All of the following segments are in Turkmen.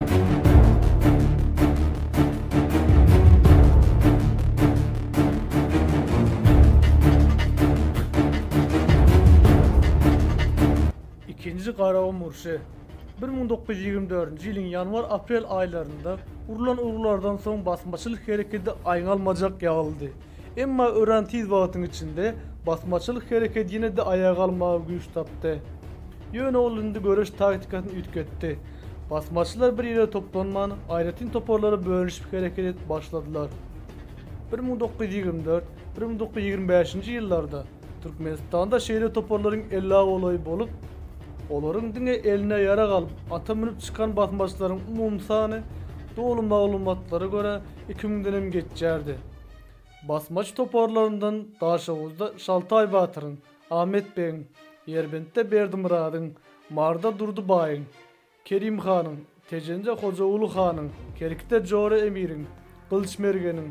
Ikinji Garagum urşy bir müň dokuz ýüz ýigrimi dördünji ýylyň ýanwar-aprel aýlarynda urlan urgulardan soň basmaçylyk hereketi aýňalmajak ýagyldy. Emma örän tiz wagtyň içinde basmaçylyk hereket ýene-de aýaga almaga güýç tapdy. Ýöne ol indi göreş taktikasyny üýtgetdi. Basmaçylar bir ýere toplanman, aýratyn toparlara bölünişip hereket edip başladylar. Bir müň dokuz ýüz ýigrimi dört, bir müň dokuz ýüz ýigrimi bäşinji ýyllarda Türkmenistanda şeýle toparlaryň ellä golaýy bolup, olaryň diňe eline ýarag alyp, ata münüp çykan basmaçylaryň umumy sany, doly maglumatlara görä, Iki müňdenem geçýärdi. Basmaç toparlaryndan Daşoguzda Şaltaý batyryň, Ahmet begiň, Ýerbentde Berdimyradyň, Maryda Durdy baýyň, Kerim hanyň, Tejende Hojaguly hanyň, Kerkide Jora emiriň, Gylyç mergeniň,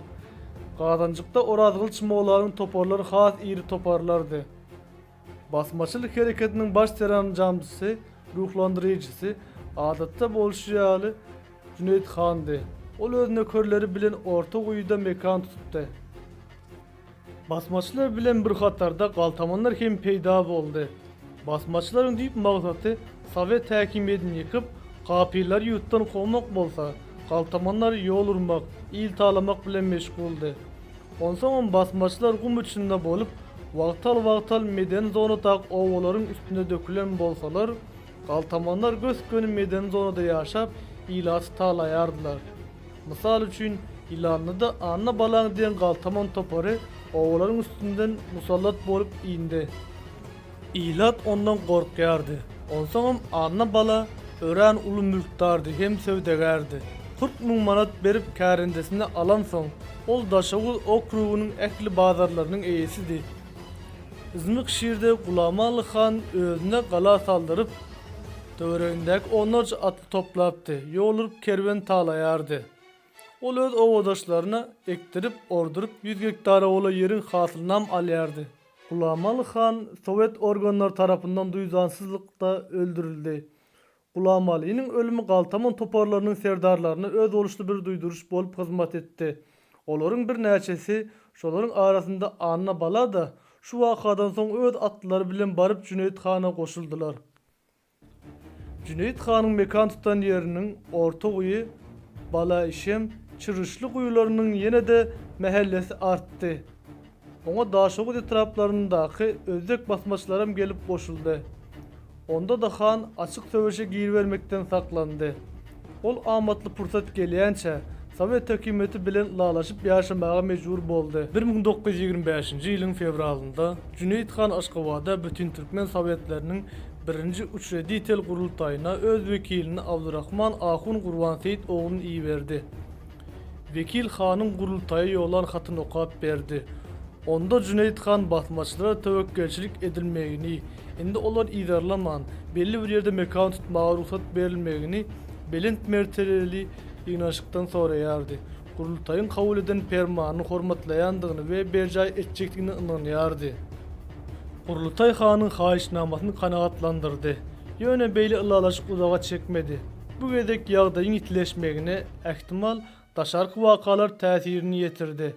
Gazanjykda Orazgylyç mollanyň toparlary has iri toparlardy. Basmaçylyk hereketiniň baş seranjamçysy, ruhlandyryjysy, adatda bolşy ýaly, Jüneýit handy. Ol öz nökerleri bilen orta guýuda mekan tutupdy. Basmaçylar bilen bir hatarda galtamanlar hem peýda boldy. Basmaçylaryň düýp maksady sowet häkimiýetini ýykyp, kapyrlary ýurtdan kowmak bolsa, galtamanlar ýol urmak, il talamak bilen meşguldy. Onsoňam basmaçylar gum içinde bolup, wagtal-wagtal medeni zonadag obalaryň üstüne dökülen bolsalar, galtamanlar gös-göni medeni zonada ýaşap, ilaty talaýardylar. Mysal üçin, Ýylanlyda Anna Balaň diýen galtaman topary obalaryň üstünden musallat bolup indi. Ilat ondan gorkýardy. Onsoňam Anna bala örän uly mülkdardy hem söwdagärdi. Kyrk müň manat berip kärendesini alansoň, ol Daşoguz okrugynyň ähli bazarlarynyň eýesidi. Yzmyk şirde Gulamaly han özüne gala saldyryp, töweregindäki onlarça atly toplapdy, ýol urup kerwen talaýardy. Ol öz obadaşlaryna ekdirip, orduryp ýüz gektar owola ýeriň hasylynam alýardy. Gulamaly han sowet organlary tarapyndan duýdansyzlykda öldürildi. Gulamalynyň ölümi galtaman toparlarynyň serdarlaryna özboluşly bir duýduryş bolup hyzmat etdi. Olaryň birnäçesi, şolaryň arasynda Annabala-da şu wakadan soň öz atlary bilen baryp Jüneýit hana goşuldylar. Jüneýit hanyň mekan tutan ýeriniň Orta guýy, Bala işem, Çyruşly guýularynyň ýene-de mähellesi artdy. Oňa Daşoguz etraplaryndaky özbek basmaçylaram gelip goşuldy. Onda-da han açyk söweşe giribermekden saklandy. Ol amatly pursat gelýänçä, sowet hökümeti bilen ylalaşyp ýaşamaga mejbur boldy. Bir müň dokuz ýüz ýigrimi bäşinji ýylyň fewralynda Jüneýit han Aşgabada Bütintürkmen sowetleriniň birinji Uçreditel gurultaýyna öz wekilini Abdurahman ahun Gurbanseýit oglun iberdi. Wekil hanyň gurultaýa ýollan hatyny okap berdi. Onda Jüneýit han basmaçylara töwekgelçilik edilmegini, indi olar yzarlaman, belli bir ýerde mekan tutmaga rugsat berilmegini belent mertebeli ýygnaşykdan soraýardy. Gurultaýyň kabul eden permanyny hormatlaýandygyny we berjaý etjekdigine ynanýardy. Gurultaý hanyň haýyşnamasyny kanagatlandyrdy. Ýöne beýle ylalaşyk uzaga çekmedi. Bu gezek ýagdaýyň ýitileşmegine, ähtimal, daşarky wakalar täsirini ýetirdi.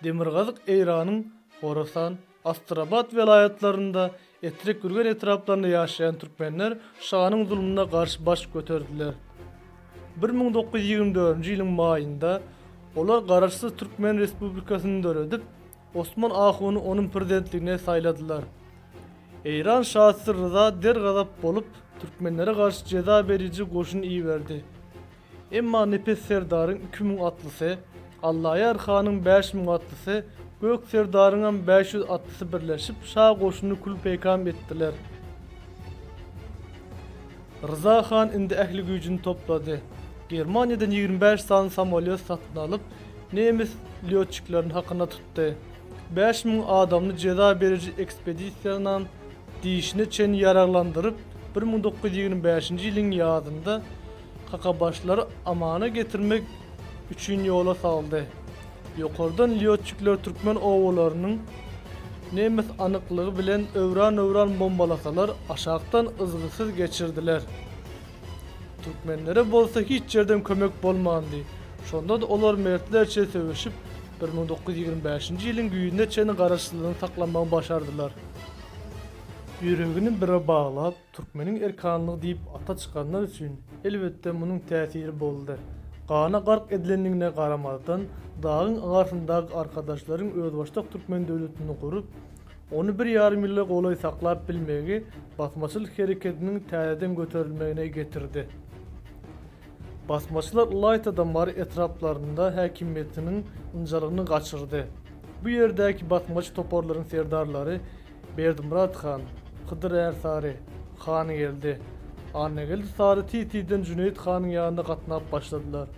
Demirgazyk Eýranyň Horasan, Astrabat welaýatlarynda, Etrek-Gürgen etraplarynda ýaşaýan türkmenler şanyň zulmuna garşy baş göterdiler. Bir müň dokuz ýüz ýigrimi dördünji ýylyň maýynda olar garaşsyz türkmen respublikasyny döredip, Osman ahuny onuň prezidentligine saýladylar. Eýran şasy Ryza der-gazap bolup, türkmenlere garşy jeza beriji goşun iberdi. Emma Nepes serdaryň iki müň atlysy, Allaýar hanyň bäş müň atlysy, Gök serdaryňam bäş ýüz atlysy birleşip, şa goşunyny kül-peýkam etdiler. Ryza han indi ähli güýjüni toplady. Germaniýadan ýigrimi bäş sany samolýot satyn alyp, Nemes lýotçiklerini hakyna tutdy. Bäş müň adamly jeza beriji ekspedisiýanam dişine çenli ýaraglandyryp, bir müň dokuz ýüz ýigrimi bäşinji ýylyň ýazynda kakabaşlary Amana getirmek üçin ýola saldy. Ýokardan lýotçikler türkmen obalarynyň nemes anyklygy bilen öwran-öwran bombalasalar, aşakdan yzgysyz geçirdiler. Türkmenlere bolsa hiç ýerden kömek bolmandy. Şonda-da olar mertlerçe söweşip, bir müň dokuz ýüz ýigrimi bäşinji ýylyň güýzüne çenli garaşsyzlygyny saklamagy başardylar. Ýüregini bire baglap, türkmeniň erkanlygy diýip ata çykanlar üçin, elbetde, munuň täsiri boldy. Gana gark edilendigine garamazdan, dagyň agarsyndaky arkadaşlaryň özbaşdak türkmen döwletini gurup, Ony bir ýarym ýyla golaý saklap bilmegi basmaçylyk hereketiniň täzeden göterilmegine getirdi. Basmaçylar ylaýta da Mary etraplarynda häkimiýetiniň ynjalygyny gaçyrdy. Bu ýerdäki basmaçy toparlaryň serdarlary Berdimyrat han, Hydyr Ärsary, Hangeldi, Annageldi Sary tiz-tizden Jüneýit hanyň ýanyna gatnap başladylar.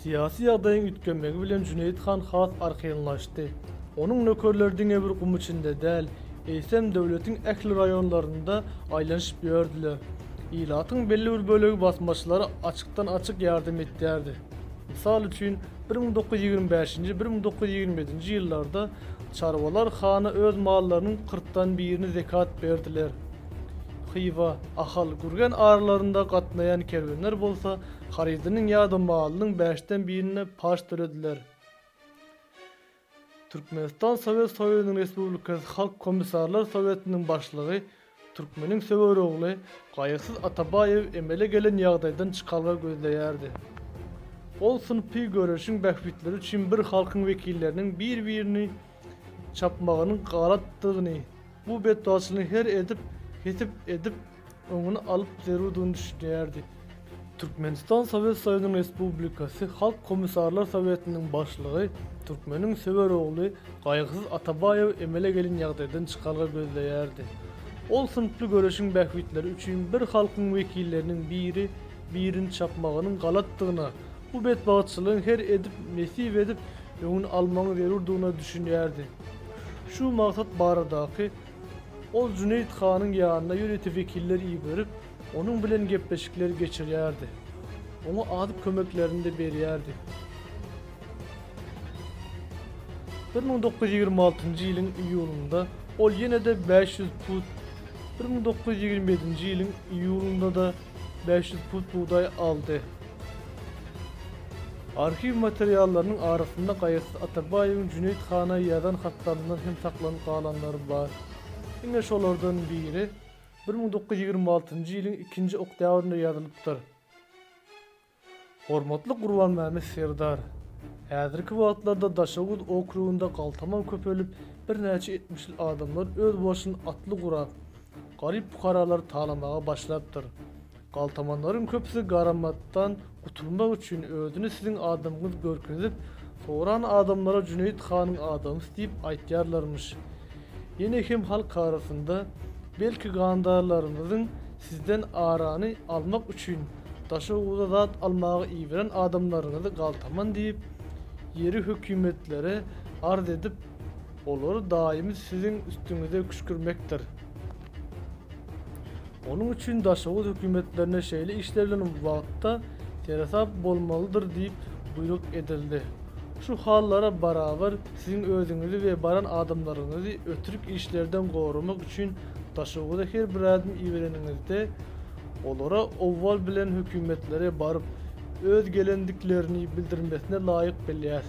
Syýasy ýagdaýyň üýtgemegi bilen Jüneýit han has arkaýynlaşdy. Onuň nökerleri diňe bir gum içinde däl, eýsem, döwletiň ähli raýonlarynda aýlanyşyp ýördüler. Ilatyň belli bir bölegi basmaçylara açykdan-açyk ýardam edýärdi. Mysal üçin, bir müň dokuz ýüz ýigrimi bäşinji, bir müň dokuz ýüz ýigrimi ýedinji ýyllarda çarwalar hana öz mallarynyň kyrkdan birini zekat berdiler. Hywa, Ahal, Gürgen aralarynda gatnaýan kerwenler bolsa Harydynyň ýa-da malynyň bäşden birine paç tölediler. Türkmenistan Sowet Soýuzynyň Respublikasy Halk Komissarlar Sowetiniň Başlygy türkmeniň söwer ogly Gaýygsyz Atabaýew emele gelen ýagdaýdan çykalga gözleýärdi. Ol synpy göreşiň bähbitleri üçin bir halkyň wekilleriniň bir-birini çapmagynyň galatdygyny, bu betbagtçylygyň her edip, hesip edip, öňüni alyp zerurdygyny düşünýärdi. Türkmenistan Sowet Soýuzynyň Respublikasy Halk Komissarlar Sowetiniň Başlygy türkmeniň söwer ogly Gaýgysyz Atabaýew emele gelen ýagdaýdan çykalga gözleýärdi. Ol synply göreşiň bähbitleri üçin bir halkyň wekilleriniň biri, birini çapmagynyň galatdygyna, Bu betbagtçylygyň her edip, nesip edip, öňüni almagyň zerurdygyna düşünýärdi. Şu maksat baradaky Ol Jüneýit hanyň ýanyna ýörite wekiller iberip, onuň bilen gepleşikler geçirýärdi. Oňa azyk kömeklerini-de berýärdi. Bir müň dokuz ýüz ýigrimi altynjy ýylyň iýulynda ol ýene-de bäş ýüz pud, bir müň dokuz ýüz ýigrimi ýedinji ýylyň iýulynda-da bäş ýüz pud bugdaý aldy. Arhiw materiallarynyň arasynda Gaýasyz Atabaýewiň Jüneýit hana ýazan hatlaryndan hem saklanyp galanlary bar. Ine şolardan biri bir müň dokuz ýüz ýigrimi altynjy ýylyň ikinji oktýabrynda ýazylypdyr. Hormatly Gurbanmämmet serdar! Häzirki wagtlarda Daşoguz okrugynda galtaman köpelip, birnäçe etmişli adamlar özbaşyn atly gurap, garyp pukaralary talamaga başlapdyr. Galtamanlaryň köpüsi garamatdan gutulmak üçin özüni siziň adamyňyz görkezip, soran adamlara Jüneýit hanyň adamysy diýip aýtýarlarmyş. Ýene hem halk arasynda, belki gandarlarymyzyň sizden arany almak üçin, Daşoguzda zat almaga iberen adamlaryňyzy galtaman diýip, ýeri hökümetlere arz edip, olary daýymy siziň üstüňize küşkürmekdir. Onuň üçin Daşoguz hökümetlerine şeýle işler bilen wagtda seresap bolmalydyr diýip buýruk edildi. Şu hallara barabar siziň özüňizi we baran adamlaryňyzy ötürk işlerden goramak üçin Daşoguza her bir adam ibereniňizde, Olara owwal bilen hökümetlere baryp, öz gelendiklerini bildirmesine laýyk bilýäs.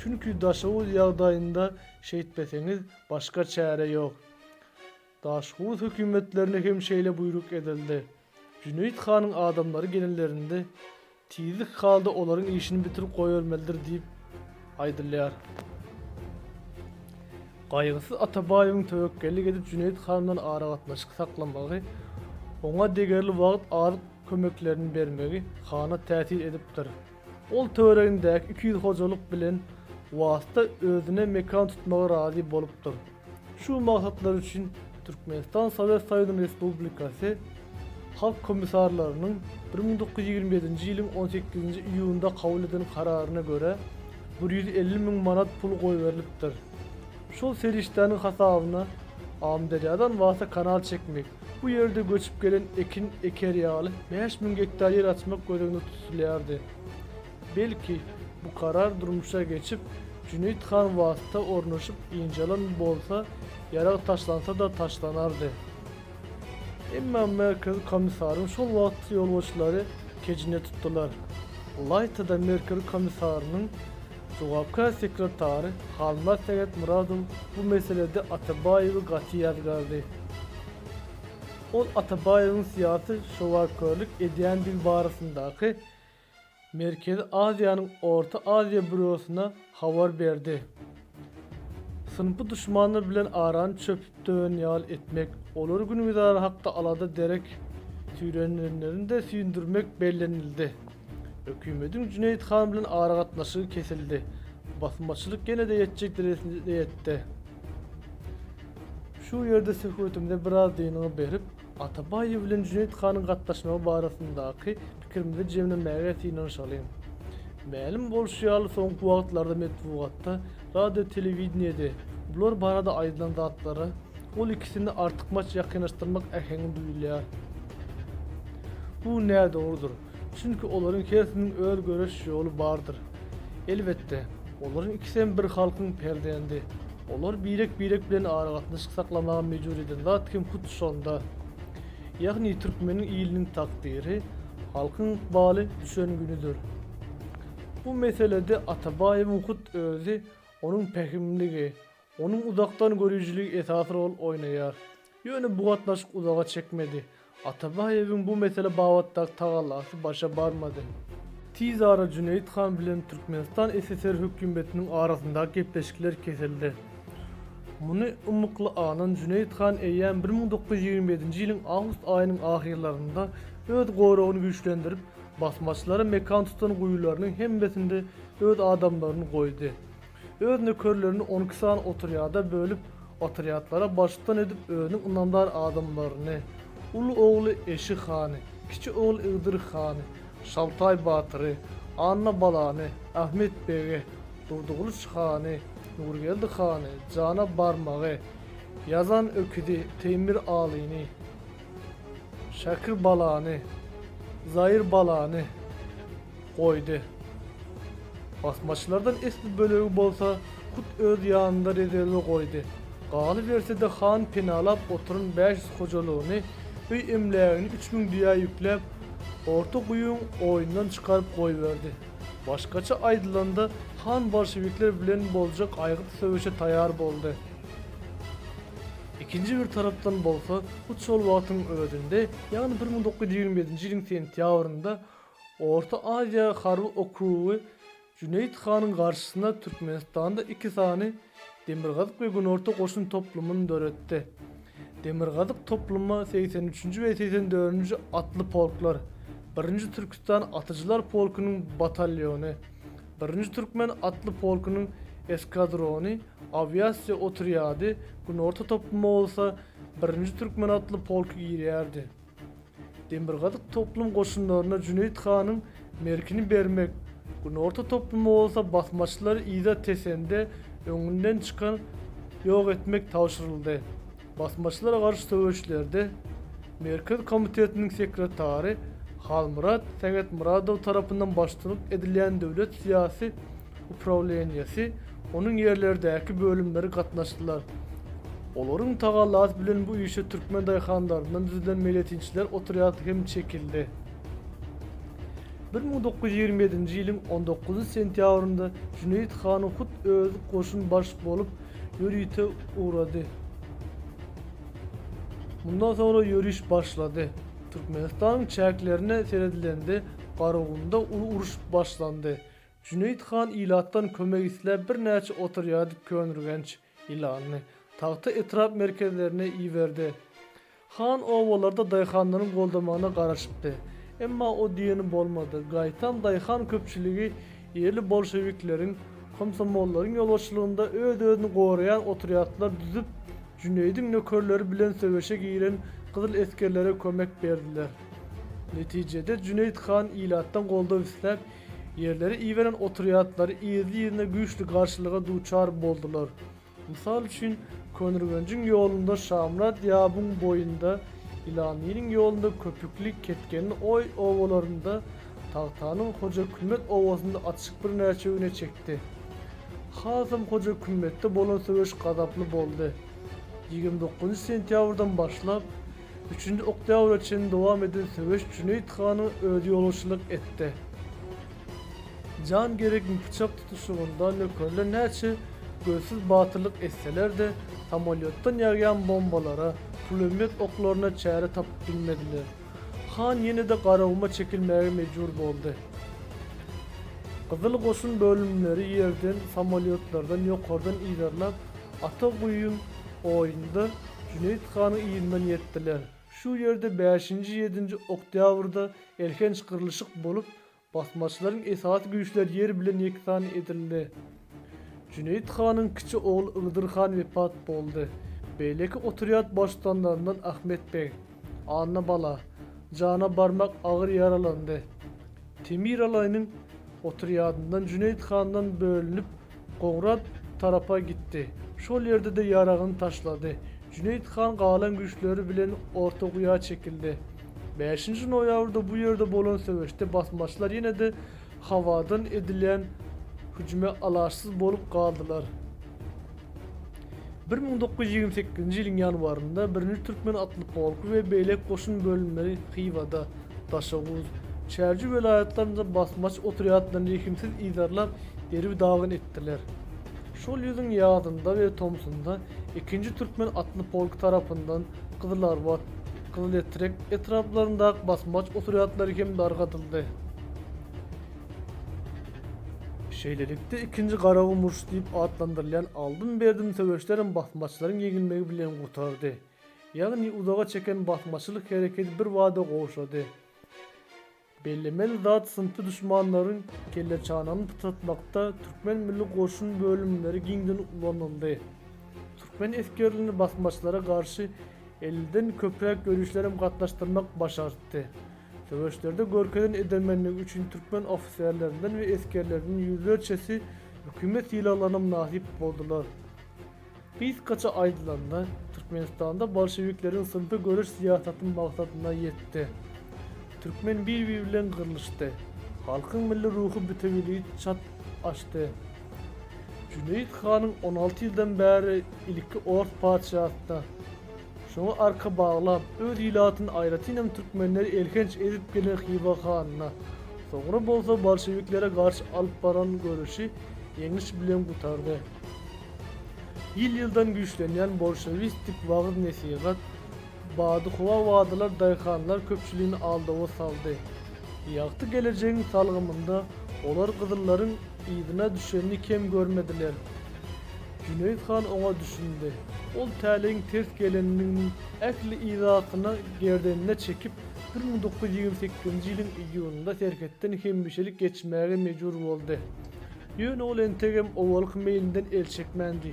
Çünki Daşoguz ýagdaýynda şeýtmeseňiz, başga çäre ýok. Daşoguz hökümetlerine hem şeýle buýruk edildi. Jüneýit hanyň adamlary gelenlerinde, Tizlik halda olaryň işini bitirip goýbermelidir diýip aýdylýar. Gaýgysyz Atabaýewiň töwekgellik edip Jüneýit han bilen aragatnaşyk saklamagy, oňa degerli wagt azyk kömeklerini bermegi hana täsir edipdir. Ol töweregindäki iki ýüz hojalyk bilen wasta özüne mekan tutmaga razy bolupdyr. Şu maksatlar üçin Türkmenistan Sowet Soýuzynyň Respublikasy Halk Komissarlarynyň bir müň dokuz ýüz ýigrimi ýedinji ýylyň on sekizinji iýunynda kabul eden kararyna görä, bir ýüz elli müň manat pul goýberilipdir. Şol serişdäniň hasabyna Amyderýadan Wasa kanal çekmek, bu ýerde göçüp gelen ekin eker ýaly bäş müň gektar ýer açmak göz öňünde tutulýardy. Belki, bu karar durmuşa geçip, Jüneýit han wagtda ornaşyp ynjalan bolsa, ýarag taşlansa-da taşlanardy. Emma Merkezi komissaryň şol wagtky ýolbaşçylary kejine tutdular. Ylaýta-da Merkezi komissarynyň jogapkär sekretary Halmyrat Sähetmyradow bu meselede Atabaýewi gaty ýazgardy. Ol Atabaýewiň syýasy şowakörlik edýändigi barasyndaky Merkezi Aziýanyň Orta Aziýa býurosyna habar berdi. Synpy duşmanlar bilen arany çöpüp döwen ýaly etmek, olar güngüzara hakda alada derek süýrenilenlerinde süýndürmek bellenildi. Hökümediň Jüneýit han bilen aragatnaşygy kesildi. Basmaçylyk ýene-de ýetjek derejesine ýetdi. Şu ýerde söhbetimize biraz dynyň berip, Atabaýew bilen Jüneýit hanyň gatnaşmagy barasyndaky pikirimizi jemlemäge synanyşalyň. Mälim bolşy ýaly, soňky wagtlarda metbugatda, radio-telewideniýede bular barada aýdylan zatlara ol ikisini artykmaç ýakynlaşdyrmak äheňi duýulýar. Bu nädogrudyr. Çünki olaryň hersiniň öz göreş ýoly bardyr. Elbetde, olaryň ikisem bir halkyň perzendi. Olar birek-birek bilen aragatnaşyk saklamaga mejbur eden zat hem hut şonda. Ýagny türkmeniň iliniň takdyry, halkyň ykbaly düşen günüdir. Bu meselede Atabaýewiň hut özi, onuň pähimligi, Onuň uzakdan görüjiligi esasy rol oýnaýar. Ýöne bu gatnaşyk uzaga çekmedi. Atabaýewiň bu mesele babatdaky tagallasy başa barmady. Tiz ara Jüneýit han bilen Türkmenistan SSR hökümetiniň arasyndaky gepleşikler kesildi. Muny ymykly aňan Jüneýit han eýýäm bir müň dokuz ýüz ýigrimi ýedinji ýylyň awgust aýynyň ahyrlarynda öz goragyny güýçlendirip, basmaçylara mekan tutan guýularynyň hemmesinde öz adamlaryny goýdy. Öz nökerlerini on iki sany otrýada bölüp, otrýadlara baştutdan edip özüniň ynamdar adamlaryny, uly ogly Eşi hany, kiçi ogly Ygdyr hany, Şaltaý batyry, Anna balany, Ahmet begi, Durdygylyç hany, Nurgeldi hany, Jana barmagy, Ýazan öküzi, Teýmir alyny, Şäkir balany, Zaýyr balany, goýdy. Basmaçylardan esli bölegi bolsa hut öz ýanynda rezerwe goýdy. Galyberse-de han penalap oturan bäş ýüz hojalygyny, öý-emlägini üç müň düýä ýükläp, orta guýyň oýundan çykaryp goýberdi. Başgaça aýdylanda, han bolşewikler bilen boljak aýgytly söweşe taýar boldy. Ikinji bir tarapdan bolsa, hut şol wagtyň özünde, ýagny bir müň dokuz ýüz ýigrimi ýedinji ýylyň sentýabrynda Orta Aziýa harby okrugy Jüneýit hanyň garşysyna Türkmenistanda iki sany Demirgazyk we Günorta goşun toplumyny döretdi. Demirgazyk topluma segsen üçünji we segsen dördünji atly polklar, birinji Türküstan atyjylar polkunyň batalýony, birinji Türkmen atly polkunyň eskadrony, awiasiýa otrýady, Günorta topluma bolsa birinji Türkmen atly polky girýärdi. Demirgazyk toplum goşunlaryna Jüneýit hanyň Merkini bermek, Günorta toplumy bolsa basmaçylary yza tesende öňünden çykan ýok etmek tabşyryldy. Basmaçylara garşy söweşlerde Merkez komitetiniň sekretary Halmyrat Sähetmyradow tarapyndan başçylyk edilýän döwlet syýasy uprawleniýesi, onuň ýerlerdäki bölümleri gatnaşdylar. Olaryň tagallasy bilen bu işe türkmen daýhanlaryndan düzülen meýletinçiler otrýady hem çekildi. Bir müň dokuz ýüz ýigrimi ýedinji ýylyň on dokuzynjy sentýabrynda Jüneýit han hut özi goşun baş bolup ýörite ugrady. Mundan soňra ýöriş başlady. Türkmenistanyň çäklerine seredilende Garagumda uly uruş başlandy. Jüneýit han ilatdan kömek isläp birnäçe otrýady Köňürgenç, Ýylanly, Tagta etrap merkezlerine iberdi. Han obalarda daýhanlaryň goldamagyna garaşypdy. Emma o diýeni bolmady. Gaýtam daýhan köpçüligi ýerli bolşewikleriň, komsomollaryň ýolbaşçylygynda öz-özüni goraýan otrýadlar düzüp, Jüneýidiň nökerleri bilen söweşe giren gyzyl esgerlere kömek berdiler. Netijede Jüneýit han ilatdan goldaw isläp, Ýerleri iberen otrýadlary irli-ýerine güýçli garşylyga duçar boldular. Mysal üçin, Könürgenjiň ýolunda Şamyrat Ýabyň boýunda, Ýylanlynyň ýolunda Köpükli, Ketgenli Oý obalarynda, Tagtanyň Hojakümmet obasynda atyşyk birnäçe güne çekdi. Hasam Hojakümmetde bolan söweş gazaply boldy. Ýigrimi dokuzynjy sentýabrdan başlap, Üçünji oktýabra çenli dowam eden söweş Jüneýit hana özi ýolbaşçylyk etdi. Jan gerekmi pyçak tutuşygynda nökerler näçe gözsüz batyrlyk etseler-de, samolýotdan ýagýan bombalara, pulemýot oklaryna çäre tapyp bilmediler. Han ýene-de Garaguma çekilmäge mejbur boldy. Gyzyl goşun bölümleri ýerden, samolýotlardan ýokardan yzarlap, Ata guýun, Oýunda Jüneýit hanyň yzyndan ýetdiler. Şu ýerde bäşinji-ýedinji oktýabrda elhenç gyrlyşyk bolup, basmaçylaryň esasy güýçleri ýer bilen ýeksan edildi. Jüneýit hanyň kiçi ogly Ygdyr han wepat boldy. Beýleki otrýad baştutanlaryndan Ahmet beg, Annabala, jana barmak agyr ýaralandy. Temir Alaýynyň otrýadyndan Jüneýit handan bölünip, Gowrat tarapa gitdi. Şol ýerde-de ýaragyny taşlady. Jüneýit han galan güýçleri bilen Orta guýa çekildi. Bäşinji noýabrda bu ýerde bolan söweşde basmaçylar ýene-de howadan edilýän hüjüme alaçsyz bolup galdylar. Bir müň dokuz ýüz ýigrimi sekizinji ýylyň ýanwarynda Birinji türkmen atly polky we beýleki goşun bölümleri Hywada, Daşoguz, Çärji welaýatlarynda basmaçy otrýadlaryny rehimsiz yzarlap, derbi-dagyn etdiler. Şol ýylyň ýazynda we tomsunda Ikinji türkmen atly polky tarapyndan Gyzylarbat, Gyzyletrek etraplaryndaky basmaçy otrýadlary hem dargadyldy. Şeýlelikde, ikinji Garagum urşy diýip atlandyrylýan aldym-berdim söweşlerem basmaçylaryň ýeňilmegi bilen gutardy. Ýagny, uzaga çeken basmaçylyk hereketi birbada gowşady. Bellemeli zat, synpy duşmanlaryň kelleçanagyny pytratmakda türkmen milli goşun bölümleri giňden ulanyldy. Türkmen esgerlerini basmaçylara garşy elliden köpräk ýörişlerem gatnaşdyrmak başartdy. Söweşlerde görkezen edermenligi üçin türkmen ofiserlerinden we esgerleriniň ýüzlerçesi hökümet sylaglaryna mynasyp boldular. Gysgaça aýdylanda, Türkmenistanda bolşewikleriň synpy göreş syýasaty maksadyna ýetdi. Türkmen bir-biri bilen gyrlyşdy. Halkyň milli ruhy bütewiligi çat aşdy. Jüneýit hanyň on alty ýyldan bäri ilki ors patyşasyna, Şoňa arka baglap, öz ilatyny, aýratynam türkmenleri elhenç ezip gelen Hywa hanyna, soňra bolsa bolşewiklere garşy alyp baran göreşi ýeňiş bilen gutardy. Ýyl-ýyldan güýçlenýän bolşewistik wagyz-nesihat, badyhowa wadalar daýhanlar köpçüligini aldawa saldy. Ýagty gelejegiň salgymynda olar gyzyllaryň yzyna düşenini kem görmediler. Jüneýit han oňa düşündi. Ol täleýiň ters gelendiginiň ähli yzatyny gerdenine çekip, bir müň dokuz ýüz ýigrimi sekizinji ýylyň iýunynda serhetden hemişelik geçmäge mejbur boldy. Ýöne ol entegem owalky meýlinden el çekmändi.